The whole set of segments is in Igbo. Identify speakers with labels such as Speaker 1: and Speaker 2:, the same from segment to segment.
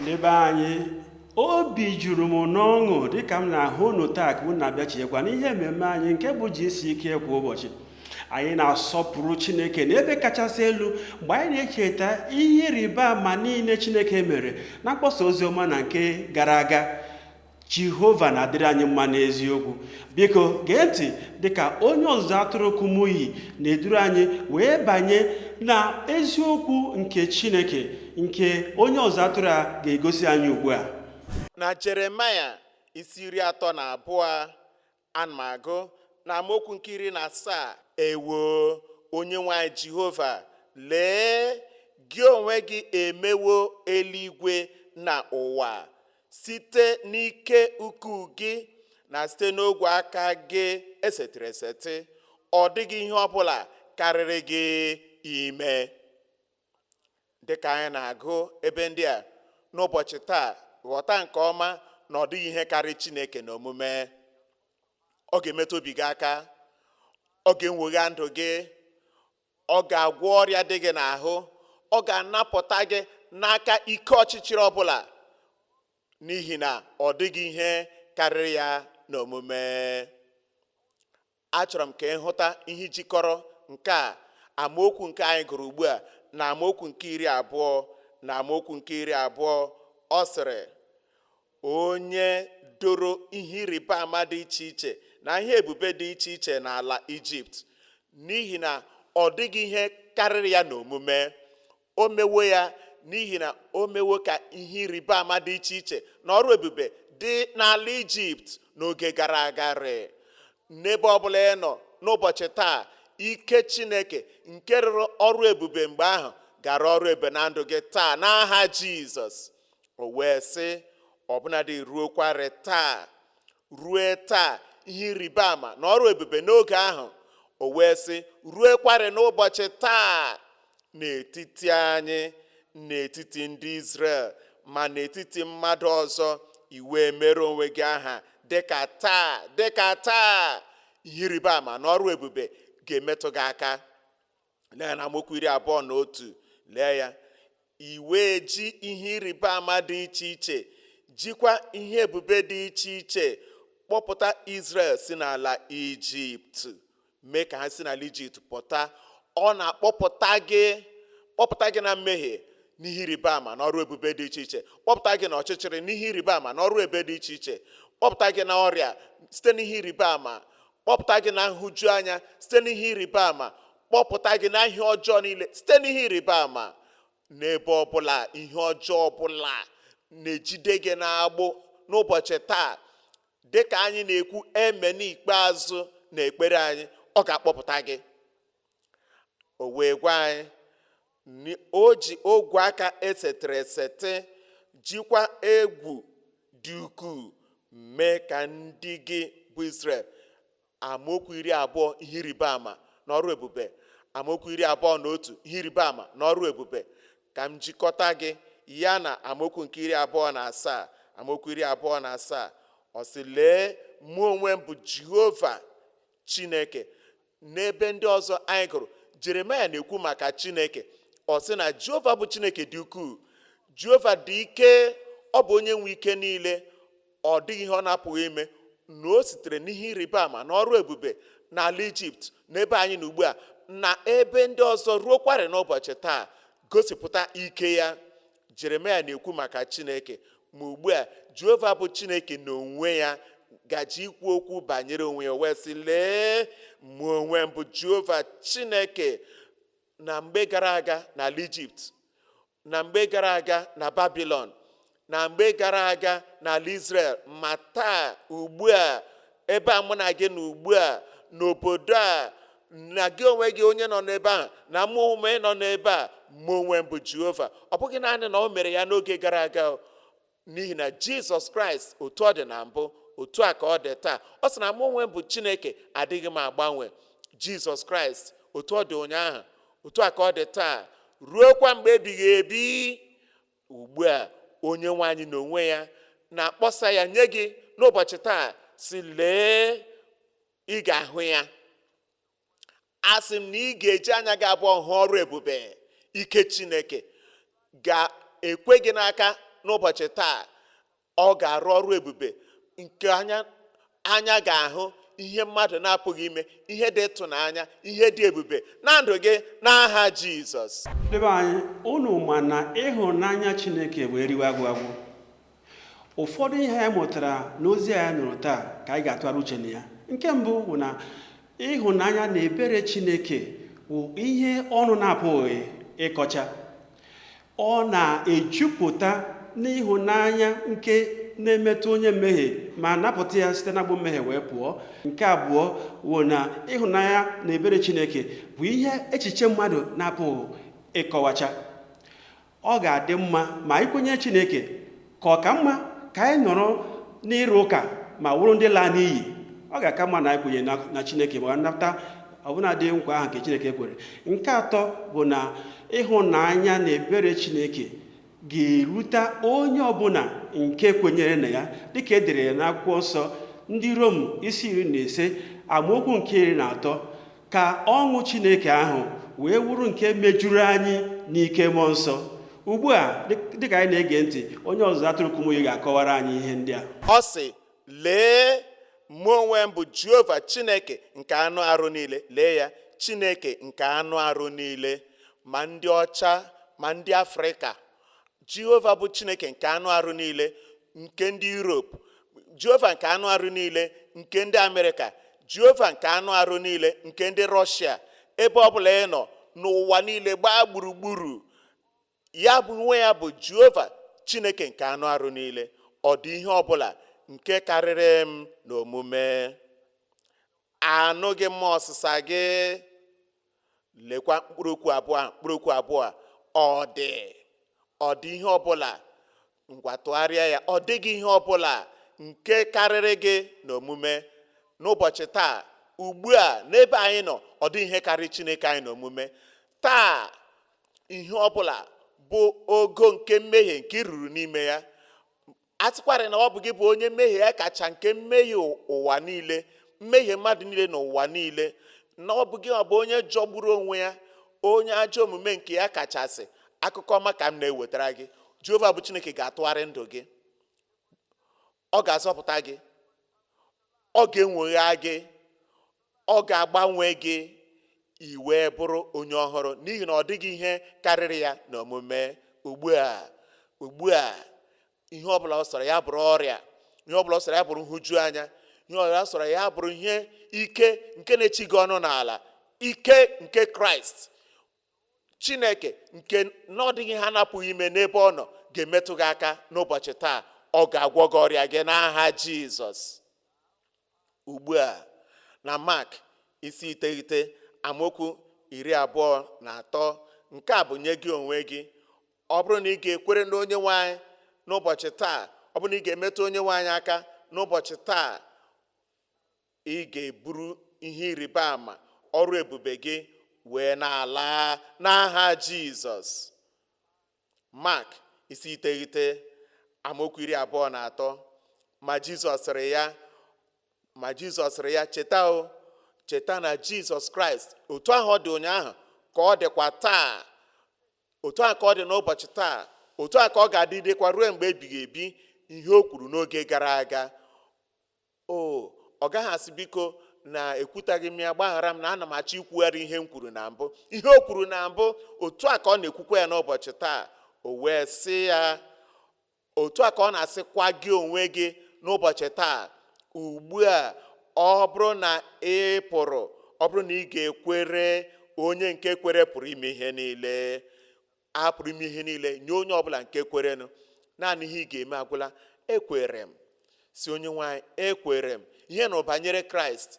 Speaker 1: ndị be anyị obi juru m n'ọṅụ dịka m na-ahụ unu taa ka unu na-abịachiekwa n'ihe mmemme anyị nke bụ GCK kwa ụbọchị anyị na-asọpụrụ chineke na ebe kachasị elu mgbe anyị na-echeta ihe ịrịba ama niile chineke mere na mkpọsa ozi ọma na nke gara aga jehova na-adịrị anyị mma n'eziokwu biko gee ntị dịka onye ọzụzụ atụrụ kumuyi na-eduru anyị wee banye na eziokwu nke chineke nke onye ọzụzụ atụrụ a ga-egosi anyị ugbu a na jeremaya
Speaker 2: isi iri atọ na abụọ Ana m agụ na amaokwu nke iri na asaa ewo onyenwe anyị jehova lee gị onwe gị emewo eluigwe na ụwa site n'ike ukwu gị na site n'ogwe aka gị esetịrị esetị ọ dịghị ihe ọ bụla karịrị gị ime dịka anyị na-agụ ebe ndị a n'ụbọchị taa ghọta nke ọma na ọ dịghị ihe karị Chineke na omume ọ ga-emetụ obi gị aka ọ ga-enwogha ndụ gị ọ ga-agwọ ọrịa dị gị n'ahụ ọ ga-anapụta gị n'aka ike ọchịchịrị ọbụla n'ihi na ọ dịghị ihe karịrị ya n'omume Achọrọ m ka ị hụta ihe jikọrọ nke a amaokwu nke anyị gụrụ ugbu a na amaokwu nke iri abụọ na amaokwu nke iri abụọ ọ sịrị onye doro ihe ịrịba ama dị iche iche na ihe ebube dị iche iche n'ala ijipt n'ihi na ọ dịghị ihe karịrị ya n'omume o mewo ya n'ihi na o mewo ka ihe ịrịba ama dị iche iche na ọrụ ebube dị n'ala ijipt n'oge gara aga rịị n'ebe ọbụla ị nọ n'ụbọchị taa ike chineke nke rụrụ ọrụ ebube mgbe ahụ ga-arụ ọrụ ebube na ndụ gị taa n'aha jizọs o wee sị ọbụnadị ruokwarị taa rue taa ihe ịrịba ama na ọrụ ebube n'oge ahụ o wee sị ruekwarị n'ụbọchị taa n'etiti anyị n'etiti ndị Izrel ma n'etiti mmadụ ọzọ i wee meere onwe gị aha dịka taa dịka taa ihe ịrịba ama na ọrụ ebube ga-emetụ gị aka lee na amaokwu iri abụọ na otu lee ya i wee ji ihe ịrịba ama dị iche iche jikwa ihe ebube dị iche iche kpọpụta Izrel si n'ala Ijipt mee ka ha si n'ala Ijipt pụta ọ na-akpọpụta gị kpọpụta gị na mmehie n'ihe ịrịba ama na ọrụ ebube dị iche iche kpọpụta gị na ọchịchịrị n'ihe ịrịba ama na ọrụ ebube dị iche iche kpọpụta gị na ọrịa site n'ihe ịrịba ama kpọpụta gị na nhụju anya site n'ihe ịrịba ama kpọpụta gị na ihe ọjọọ niile site n'ihe ịrịba ama n'ebe ọbụla ihe ọjọọ ọbụla na-ejide gị n'agbụ n'ụbọchị taa dị ka anyị na-ekwu amen ikpeazụ na ekpere anyị ọ ga-akpọpụta gị o wee gwa anyị O ji ogwe aka esetịrị esetị jikwa egwu dị ukwuu mee ka ndị gị bụ Izrel amaokwu iri abụọ ihe ịrịba ama na ọrụ ebube amaokwu iri abụọ na otu ihe ịrịba ama na ọrụ ebube ka m jikọta gị ya na amaokwu nke iri abụọ na asaa amaokwu iri abụọ na asaa ọ sị lee mụ onwe m bụ Jehova Chineke N'ebe ndị ọzọ anyị gụrụ, Jeremaya na-ekwu maka Chineke. Ọ sị na Jehova bụ Chineke dị ukwuu. Jehova dị ike, ọ bụ onye nwe ike niile, ọ dịghị ihe ọ na-apụghị ime na o sitere n'ihe ịrịba ama na ọrụ ebube n'ala Ijipt n'ebe anyị nọ ugbu a na ebe ndị ọzọ ruokwarị n'ụbọchị taa gosipụta ike ya jeremaya na-ekwu maka chineke ma ugbu a jehova bụ chineke n'onwe ya gaje ikwu okwu banyere onwe ya wee sị lee mụ onwe m bụ jehova chineke na mgbe gara aga n'ala ijipt na mgbe gara aga na babilon na mgbe gara aga n'ala Izrel ma taa ugbu a ebe a mụ na gị nọ ugbu a n'obodo a na gị onwe gị onye nọ n'ebe ahụ na mụ onwe m nọ n'ebe a mụ onwe m bụ jehova ọ bụghị naanị na o mere ya n'oge gara aga o. n'ihi na jizọs kraịst otu ọ dị na mbụ otu a ka ọ dị taa ọ sị na mụ onwe m bụ chineke adịghị m agbanwe jizọs kraịst otu ọ dị ụnyaahụ otu a ka ọ dị taa ruokwa mgbe ebighị ebi ugbu a onyenwe anyị n'onwe ya na-akpọsa ya nye gị n'ụbọchị taa sị lee ị ga-ahụ ya asị m na ị ga-eji anya gị abụọ hụ ọrụ ebube ike chineke ga-ekwe gị n'aka n'ụbọchị taa ọ ga-arụ ọrụ ebube nke anya ga-ahụ ihe mmadụ na-apụghị ime ihe dị ịtụnanya ihe dị ebube na ndụ gị n'aha jizọs ndị be anyị
Speaker 1: unu ma na ịhụnanya chineke wụ eriwe agwụ agwụ ụfọdụ ihe anyị mụtara n'ozi anyị nụrụ taa ka anyị ga-atụgharị uche na ya nke mbụ bụ na ịhụnanya na ebere chineke bụ ihe ọnụ na-apụghị ịkọcha Ọ na-ejupụta n'ịhụnanya nke na-emetụ onye mmehie ma napụta ya site n'agbụ mmehie wee pụọ nke abụọ wụ na ịhụnanya na ebere chineke bụ ihe echiche mmadụ na-apụghị ịkọwacha ọ ga-adị mma ma i kwenye chineke ka ọ ka mma ka anyị nọrọ n'ịrụ ụka ma wụrụ ndị laa n'iyi ọ ga-aka mma na anyị kwenyere na chineke ma nata ọbụnadị nkwa ahụ nke chineke kwere nke atọ bụ na ịhụnanya na ebere chineke ga-erute onye ọbụla nke kwenyere na ya dịka e dere ya n'akwụkwọ nsọ ndị rom isi iri na ise amaokwu nke iri na atọ ka ọṅụ Chineke ahụ wee wụrụ nke mejuru anyị n'ike mmụọ nsọ ugbu a dịka anyị na-ege ntị onye ọzụzụ atụrụ kumuyi ga-akọwara anyị ihe ndị a ọ sị
Speaker 2: lee mụ onwe m bụ jehova chineke nke anụ arụ niile lee ya chineke nke anụ arụ niile ma ndị ọcha ma ndị afrịka jehova bụ chineke nke anụ arụ niile nke ndị europe jehova nke anụ arụ niile nke ndị amerịka jehova nke anụ arụ niile nke ndị rọshia ebe ọbụla ị nọ n'ụwa niile gbaa gburugburu ya onwe ya bụ jehova chineke nke anụ arụ niile ọ dị ihe ọbụla nke karịrị m n'omume anụghị m ọsịsa gị lekwa mkpụrụ okwu abụọ ahụ mkpụrụ okwu abụọ a ọ dị ọ dị ihe ọbụla ngwa tụgharịa ya ọ dịghị ihe ọbụla nke karịrị gị n'omume n'ụbọchị taa ugbu a n'ebe anyị nọ ọ dị ihe karịrị chineke anyị n'omume taa ihe ọbụla bụ ogo nke mmehie nke i ruru n'ime ya a sịkwarị na ọ bụ gị bụ onye mmehie ya kacha nke mmehie ụwa niile mmehie mmadụ niile n'ụwa niile na ọ bụ gị ọ bụ onye jọgburu onwe ya onye ajọ omume nke ya kachasị akụkọ ọma ka m na-ewetara gị jehova bụ chineke ga-atụgharị ndụ gị ọ ga-azọpụta gị ọ ga-enwegha gị ọ ga-agbanwe gị i wee bụrụ onye ọhụrụ n'ihi na ọ dịghị ihe karịrị ya n'omume ugbu a ugbu a ihe ọbụla ọ sọrọ ya bụrụ ọrịa ihe ọbụla ọ sọrọ ya bụrụ nhụju anya ihe ọbụla ọ sọrọ ya bụrụ ihe ike nke na-echi gị ọnụ n'ala ike nke kraịst chineke nke na ọ dịghị ihe a na-apụghị ime n'ebe ọ nọ ga-emetụ gị aka n'ụbọchị taa ọ ga-agwọ gị ọrịa gị n'aha jizọs ugbu a na mak isi iteghete amaokwu iri abụọ na atọ nke a bụ nye gị onwe gị ọ bụrụ na ị ga-ekwere na onye nwe anyị n'ụbọchị taa ọ bụrụ na ị ga-emetụ onye nwe anyị aka n'ụbọchị taa Ị ga-eburu ihe ịrịba ama ọrụ ebube gị wee na-ala n'aha Jizọs. Mak isi iteghete amaokwu iri abụọ na atọ ma Jizọs sịrị ya ma Jizọs sịrị ya cheta o cheta na Jizọs Kraịst otu ahụ ọ dị ụnyaahụ ka ọ dịkwa taa otu ahụ ka ọ dị n'ụbọchị taa otu ahụ ka ọ ga-adịdekwa ruo mgbe ebighị ebi ihe o kwuru n'oge gara aga O, ọ gaghị asị biko na ekwutaghị m ya gbaghara m na ana m achọ ikwugharị ihe m kwuru na mbụ ihe o kwuru na mbụ otu a ka ọ na-ekwukwa ya n'ụbọchị taa o wee sị ya otu a ka ọ na-asịkwa gị onwe gị n'ụbọchị taa ugbu a ọ bụrụ na ị pụrụ ọ bụrụ na ị ga-ekwere onye nke kwere pụrụ ime ihe niile a pụrụ ime ihe niile nye onye ọbụla nke kwerenụ naanị ihe ị ga-eme agwụla ekwere m sị onye nwe anyị ekwere m ihe m nụrụ banyere kraịst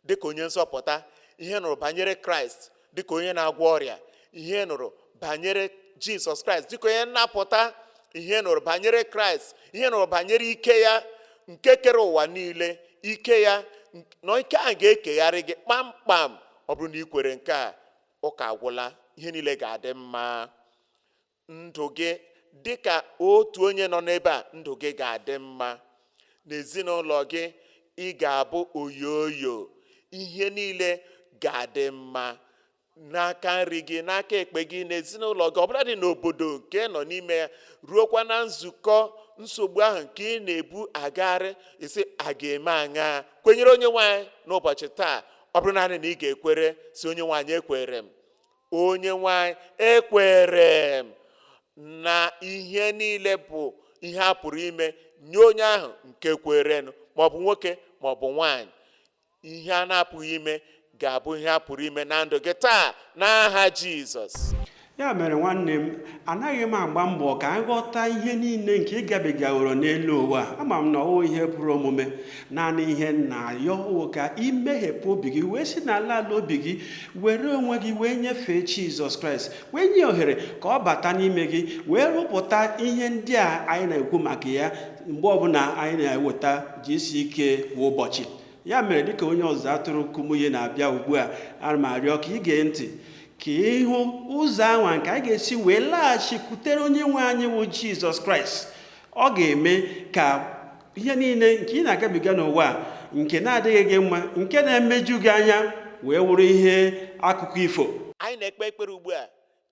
Speaker 2: dịka onye nzọpụta ihe m nụrụ banyere kraịst dịka onye na-agwọ ọrịa ihe m nụrụ banyere jizọs kraịst dịka onye nnapụta ihe m nụrụ banyere kraịst ihe m nụrụ banyere ike ya nke kere ụwa niile ike ya nk- na ike ahụ ga-ekegharị gị kpamkpam ọ bụrụ na ị kwere nke a ụka agwụla ihe niile ga-adị mma ndụ gị dị ka otu onye nọ n'ebe a ndụ gị ga-adị mma n'ezinụlọ gị ị ga-abụ oyoyo ihe niile ga-adị mma n'aka nri gị n'aka ekpe gị n'ezinụlọ gị ọbụladị n'obodo nke ị nọ n'ime ya ruokwa na nzukọ nsogbu ahụ nke ị na-ebu agagharị ị sị a ga-eme aṅaa kwenyere onye nwe anyị n'ụbọchị taa ọ bụrụ naanị na ị ga-ekwere sị onye nwe anyị ekwere m onye nwe anyị ekwere m na ihe niile bụ ihe a pụrụ ime nye onye ahụ nke kwerenụ maọbụ nwoke maọbụ nwaanyị ihe a na-apụghị ime ga-abụ ihe a pụrụ ime na ndụ gị taa n'aha Jizọs ya
Speaker 1: mere nwanne m anaghị m agba mbọ ka anyị ghọta ihe niile nke ị gabigaworo n'elu ụwa ama m na ọ wụ ihe pụrụ omume naanị ihe m na-ayọ wụ ka i meghepụ obi gị wee si n'ala ala obi gị were onwe gị wee nyefee Jizọs Kraịst wee nye ohere ka ọ bata n'ime gị wee rụpụta ihe ndị a anyị na-ekwu maka ya mgbe ọbụla anyị na-eweta GCK kwa ụbọchị ya mere dịka onye ọzụzụ atụrụ Kumuyi na-abịa ugbu a ana m arịọ ka ị gee ntị ka ị hụ ụzọ anwa nke anyị ga-esi wee laghachikwutere onye nwe anyị wụ jizọs kraịst ọ ga-eme ka ihe niile nke ị na-agabiga n'ụwa nke na-adịghị gị mma nke na-emeju gị anya wee wụrụ ihe akụkọ ifo anyị na-ekpe
Speaker 2: ekpere ugbu a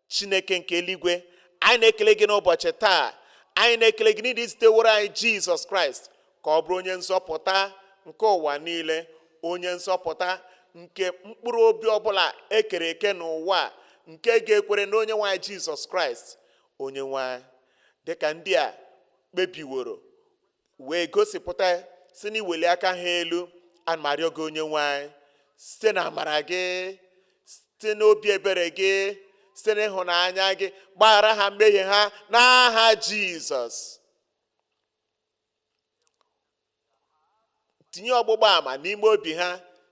Speaker 2: chineke nke eluigwe anyị na-ekele gị n'ụbọchị taa anyị na-ekele gị n'ihi i ziteworo anyị jizọs kraịst ka ọ bụrụ onye nzọpụta nke ụwa niile onye nzọpụta nke mkpụrụ obi ọbụla ekere eke n'ụwa nke ga-ekwere na onye nwe anyị jizọs kraịst onye nwe anyị dịka ndị a kpebiworo wee gosipụta si n'iweli aka ha elu ana m arịọ gị onye nwe anyị site na amara gị site n'obi ebere gị site n'ịhụnanya gị gbaghara ha mmehie ha n'aha jizọs tinye ọgbụgba ama n'ime obi ha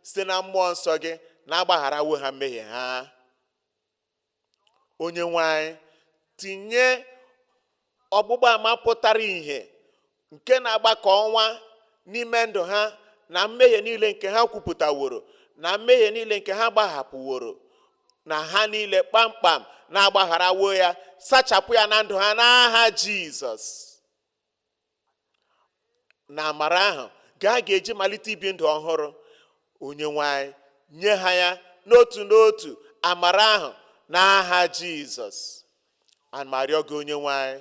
Speaker 2: site na mmụọ nsọ gị na a gbagharawo ha mmehie ha onye nwe anyị tinye ọgbụgba ama pụtara ìhè nke na-agba ka ọnwa n'ime ndụ ha na mmehie niile nke ha kwupụtaworo na mmehie niile nke ha gbahapụworo na ha niile kpamkpam na a gbagharawo ya sachapụ ya na ndụ ha n'aha jizọs na amara ahụ nke a ga-eji malite ibi ndụ ọhụrụ onye nwe anyị nye ha ya n'otu n'otu amara ahụ n'aha jizọs ana m arịọ gị onye nwe anyị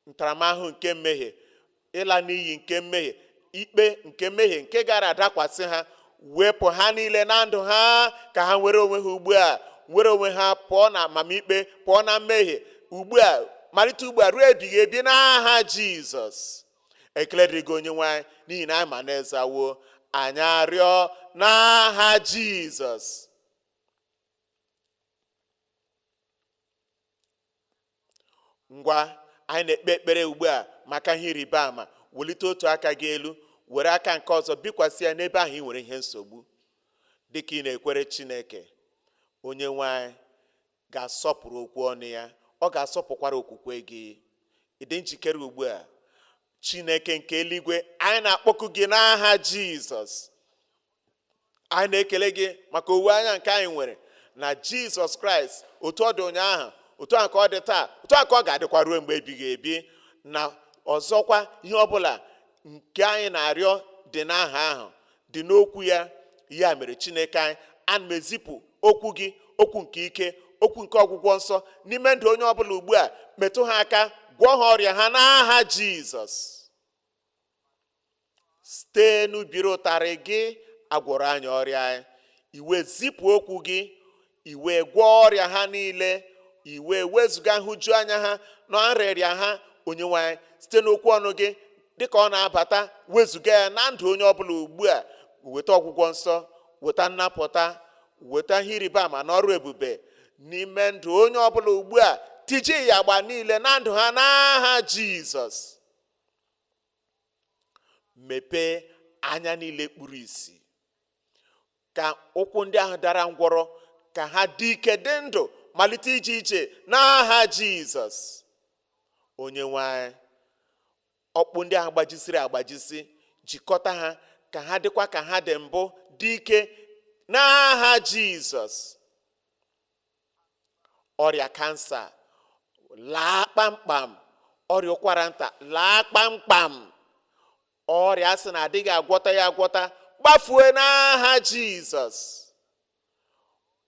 Speaker 2: ntaramahụhụ nke mmehie ịla n'iyi nke mmehie ikpe nke mmehie nke gara adakwasị ha wepụ ha niile na ndụ ha ka ha nwere onwe ha ugbu a nwere onwe ha pụọ na amamikpe pụọ na mmehie ugbu a malite ugbu a ruo ebighị ebi n'aha jizọs ekele dịrị gị onye nwe anyị n'ihi na anyị ma na ị zawo anyị arịọ n'aha jizọs ngwa anyị na-ekpe ekpere ugbu a maka ihe ịrịba ama welite otu aka gị elu were aka nke ọzọ bikwasị ya n'ebe ahụ ị nwere ihe nsogbu dị ka ị na-ekwere Chineke onye nwe anyị ga-asọpụrụ okwu ọnụ ya ọ ga-asọpụkwara okwukwe gị ị dị njikere ugbu a Chineke nke eluigwe anyị na-akpọku gị n'aha Jizọs anyị na-ekele gị maka owuwe anya nke anyị nwere na jizọs kraịst otu ọ dị ụnyaahụ otu a ka ọ dị taa otu a ka ọ ga-adịkwa ruo mgbe ebighị ebi na ọzọkwa ihe ọbụla nke anyị na-arịọ dị n'aha ahụ dị n'okwu ya ya mere chineke anyị ana m ezipụ okwu gị okwu nke ike okwu nke ọgwụgwọ nsọ n'ime ndụ onye ọbụla ugbu a metụ ha aka gwọọ ha ọrịa ha n'aha jizọs site n'ubiri ụtarị gị a gwọrọ anyị ọrịa anyị i wee zipụ okwu gị i wee gwọọ ọrịa ha niile i wee wezụga nhụju anya ha na nrịanrịa ha onyenwe anyị site n'okwu ọnụ gị dịka ọ na-abata wezụga ya na ndụ onye ọbụla ugbu a weta ọgwụgwọ nsọ weta nnapụta weta ihe ịrịba ama na ọrụ ebube n'ime ndụ onye ọbụla ugbu a tijie ịyagba niile na ndụ ha n'aha jizọs mepee anya niile kpuru isi ka ụkwụ ndị ahụ dara ngwọrọ ka ha dị ike dị ndụ malite ije ije n'aha jizọs onye nwe anyị ọkpụ ndị ahụ gbajisiri agbajisi jikọta ha ka ha dịkwa ka ha dị mbụ dị ike n'aha jizọs ọrịa kansa laa kpamkpam ọrịa ụkwara nta laa kpamkpam ọrịa a sị na adịghị agwọta ya agwọta gbafue n'aha jizọs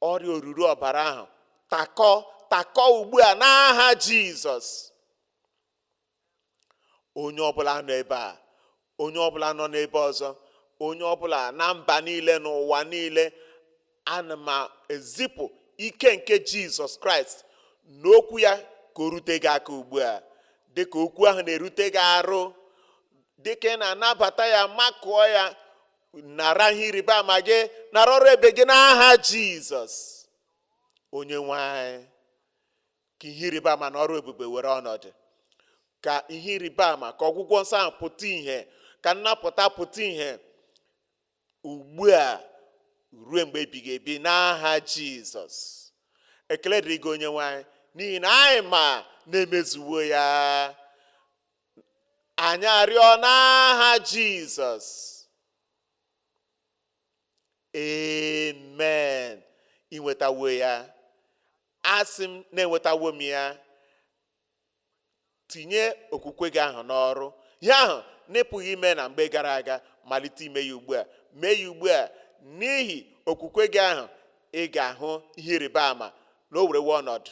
Speaker 2: ọrịa oruru ọbara ahụ takọ takọ ugbu a n'aha jizọs onye ọbụla nọ ebe a onye ọbụla nọ n'ebe ọzọ onye ọbụla na mba niile n'ụwa niile ana m ezipụ ike nke jizọs kraịst na okwu ya ka o rute gị aka ugbu a dịka okwu ahụ na-erute gị arụ dịka ị na-anabata ya makụọ ya nara ihe ịrịba ama gị nara ọrụ ebube gị n'aha jizọs onye nwe anyị ka ihe ịrịba ama na ọrụ ebube were ọnọdụ ka ihe ịrịba ama ka ọgwụgwọ nsọ ahụ pụta ihe ka nnapụta pụta ihe ugbu a ruo mgbe ebighị ebi n'aha jizọs ekele dịrị gị onye nwe anyị n'ihi na anyị ma na e mezuwo ya anyị arịọ n'aha jizọs amen i nwetawo ya asị m na enwetawo m ya tinye okwukwe gị ahụ n'ọrụ ihe ahụ na ị pụghị ime na mgbe gara aga malite ime ya ugbu a mee ya ugbu a n'ihi okwukwe gị ahụ ị ga-ahụ ihe ịrịba ama na o werewe ọnọdụ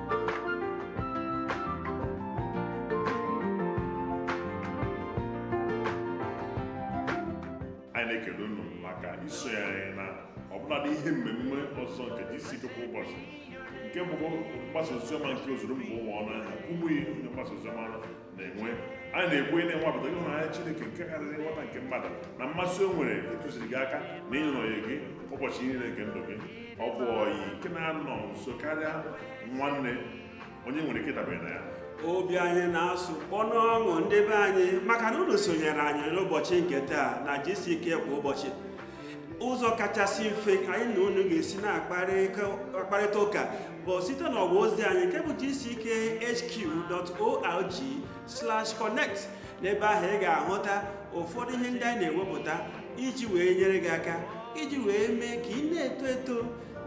Speaker 3: anyị na-ekele unu maka isonye anyị na ọbụladị ihe mmemme ọzọ nke GCK kwa ụbọchị nke bụ mgbasa oziọma nke ozuru mba ụwa ọnụ anyị na Kumuyi onye mgbasa oziọma na-enwe anyị na-ekwu ị na-anwapụta ịhụnanya Chineke nke karịrị nghọta nke mmadụ na mmasị o nwere ịtụziri gị aka na ịnọnye gị ụbọchị niile nke ndụ gị ọ bụ ọyị nke na-anọ nso karịa nwanne onye nwere ike ịdabere na ya obi
Speaker 1: anyị na-asụ kpọ n'ọṅụ ndị be anyị maka na unu sonyere anyị n'ụbọchị nke taa na GCK kwa ụbọchị ụzọ kachasị mfe anyị na unu ga-esi na-akparịta ụka bụ site n'ọwa ozi anyị nke bụ gckhq.org/connect n'ebe ahụ ị ga-ahụta ụfọdụ ihe ndị anyị na-ewepụta iji wee nyere gị aka iji wee mee ka ị na-eto eto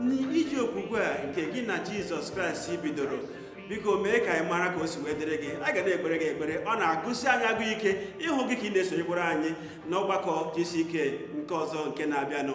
Speaker 1: n'ije okwukwe a nke gị na Jizọs Kraịst bidoro biko mee ka anyị mara ka o si wee dịrị gị a ga na-ekpere gị ekpere ọ na-agụsi anyị agụ ike ịhụ gị ka ị na-esonyekwara anyị n'ọgbakọ gck nke ọzọ
Speaker 3: nke
Speaker 1: na-abịanụ